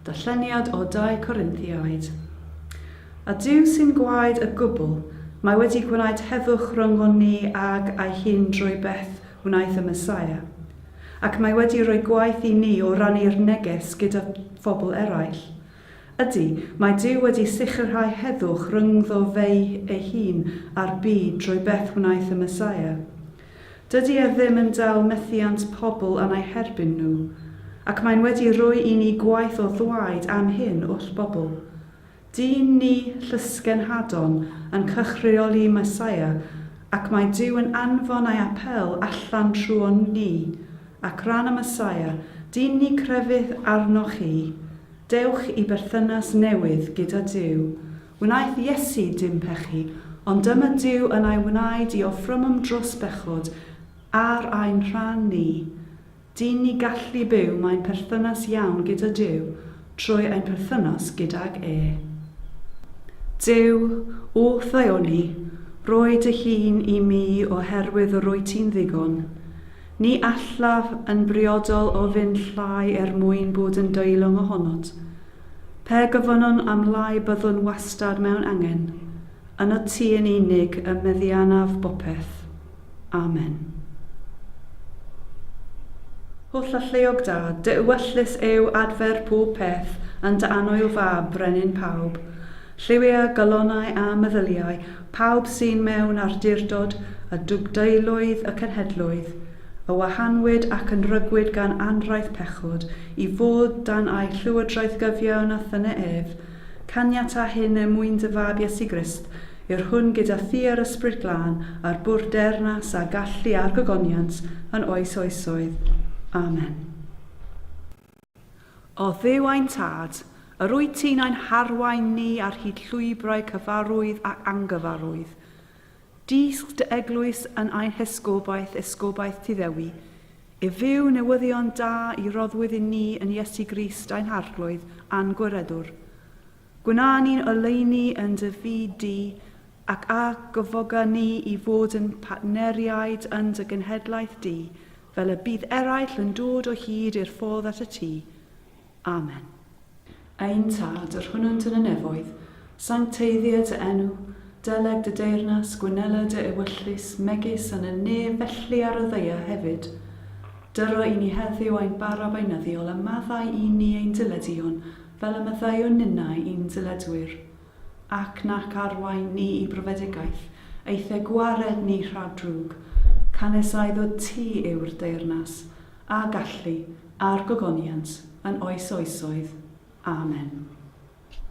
Darlleniad o Dau Corinthiaid. A Duw sy'n gwaed y gwbl, mae wedi gwneud heddwch rhyngon ni ag ei hun drwy beth wnaeth y Meseia. Ac mae wedi rhoi gwaith i ni o rannu'r neges gyda phobl eraill. Ydy, mae Duw wedi sicrhau heddwch rhyngddo fe'i ei hun a'r byd drwy beth wnaeth y Meseia. Dydy e ddim yn dal methiant pobl am ei herbyn nhw, ac mae'n wedi rhoi i ni gwaith o ddwaid am hyn wrth bobl. Dyn ni llysgenhadon yn cychreoli Meseia, ac mae Duw yn anfon ei apêl allan trwon ni, ac ran y Meseia, dyn ni crefydd arnoch chi, dewch i berthynas newydd gyda Duw, Wnaeth Iesu dim pechu, ond dyma Duw yn ei wnaed i offrymwm drws bechod ar ein rhan ni. Dyn ni gallu byw mae'n perthynas iawn gyda Duw trwy ein perthynas gydag e. Duw, wrth ddaioni, roi dy hun i mi oherwydd y roi ti'n ddigon. Ni allaf yn briodol ofyn llai er mwyn bod yn deilwng ohonot. Pe gofynnwn am lai byddwn wastad mewn angen. Ynot ti yn unig y meddianaf bopeth. Amen. O Llylleuog da, dy ewyllys yw adfer pob peth yn dy annwyl fab, brenin pawb. Lliwia, galonau a meddyliau, pawb sy'n mewn arduurdod a dugdeulwydd y cenhedloedd, y wahanwyd ac yn rygwyd gan anraith pechod, i fod dan a'i llywodraeth gyfiawn a thyne ef, caniata hyn er mwyn dy Fab Iesu Grist, yw'r hwn gyda thi yr Ysbryd Glân, a'r bwrdd deyrnas a gallu a'r gogoniant, yn oes oesoedd. Amen. O Dduw ein Tad, yr wyt ti'n ein harwain ni ar hyd llwybrau cyfarwydd ac angyfarwydd. Dysg dy eglwys yn ein hesgobaeth, esgobaeth ti Ddewi, i fyw newyddion da i roddwyd i ni yn Iesu Grist ein Harglwydd a'n Gwiredwr. Gwna ni'n oleuni yn dy fyd di, ac a gyfoga ni i fod yn partneriaid yn dy genhedlaeth di, fel y bydd eraill yn dod o hyd i'r ffordd at y tŷ. Amen. Ein Tad, yr hwnnwnt yn y nefoedd, sancteiddia dy enw, deleg dy deyrnas, gwynela dy ewyllys, megis yn y nef felly ar y ddaear hefyd. Dyro i ni heddiw ein bara beunyddiol a maddau i ni ein dileduon fel y maddeuwn ninnau i'n diledwyr. ac nac arwain ni i brofedigaeth, eithe gwared ni rhag drwg, canesau ddod ti yw'r deyrnas, a gallu, a'r gogoniant, yn oes oesoedd. Amen.